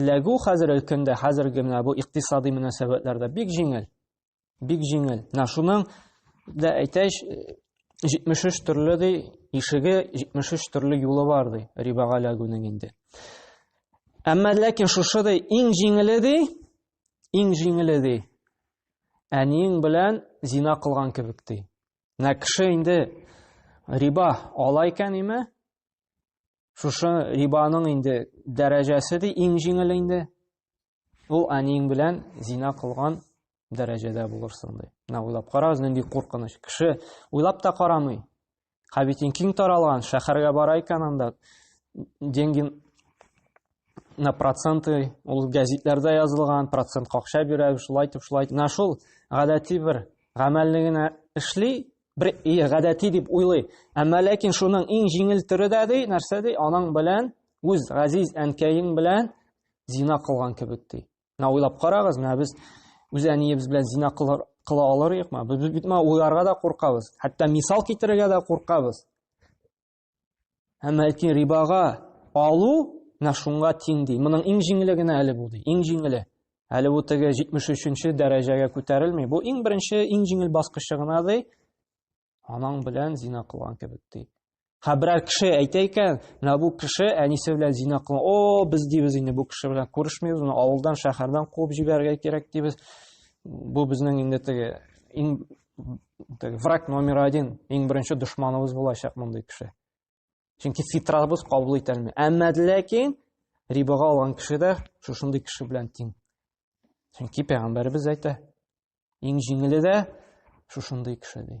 Эләгү хәзер өлкәндә, хәзерге менә бу икътисади мөнәсәбәтләрдә бик җиңел. Бик җиңел. Менә шуның да әйтәч, 73 төрле ди, ишеге 73 төрле юлы бар ди, рибага эләгүнең инде. Әмма ләкин шушы ди, иң җиңеле ди, иң җиңеле ди. Әниең белән зина кылган кебек ди. Менә кеше инде риба ала икән име, Шушы рибаның инде дәрәҗәсе ди иң җиңел инде. Ул әниең белән зина кылган дәрәҗәдә булырсың ди. Менә уйлап карагыз, нинди куркыныч. Кеше уйлап та карамый. Хәбитин киң таралган, шәһәргә бара икән анда деньги на проценты ул гәзитләрдә язылган процент какча бирә шулай итеп шулай итеп шул гадәти бер гамәлне генә эшли бер гадәти дип уйлый. Әмма ләкин шуның иң җиңел төре дә ди, нәрсә ди, аның белән үз газиз әнкәең белән зина кылган кебек ди. Менә уйлап карагыз, менә без үз әниебез белән зина кылар кыла алырыкмы? Без бит моны уйларга да куркабыз, хәтта мисал китерергә дә куркабыз. Әмма әйтин рибага алу менә шуңа тиң ди. Моның иң җиңеле генә әле бу ди. Иң җиңеле. Әле бу теге 73-нче дәрәҗәгә күтәрелми. Бу иң беренче, иң җиңел баскычы гына ди. Анаң белән зина кылган кебек ди. Ха берәр кеше әйтә икән, менә бу кеше әнисе белән зина кылган. О, без дибез инде бу кеше белән күрешмибез, моны авылдан, шәһәрдән куып җибәрергә кирәк дибез. Бу безнең инде теге иң враг номер один иң беренче дошманыбыз булачак мондый кеше чөнки фитрабыз кабул итә алмый әмма ләкин рибага алган кеше дә шушындый кеше белән тиң чөнки пәйгамбәребез әйтә иң җиңеле дә шушындый кеше ди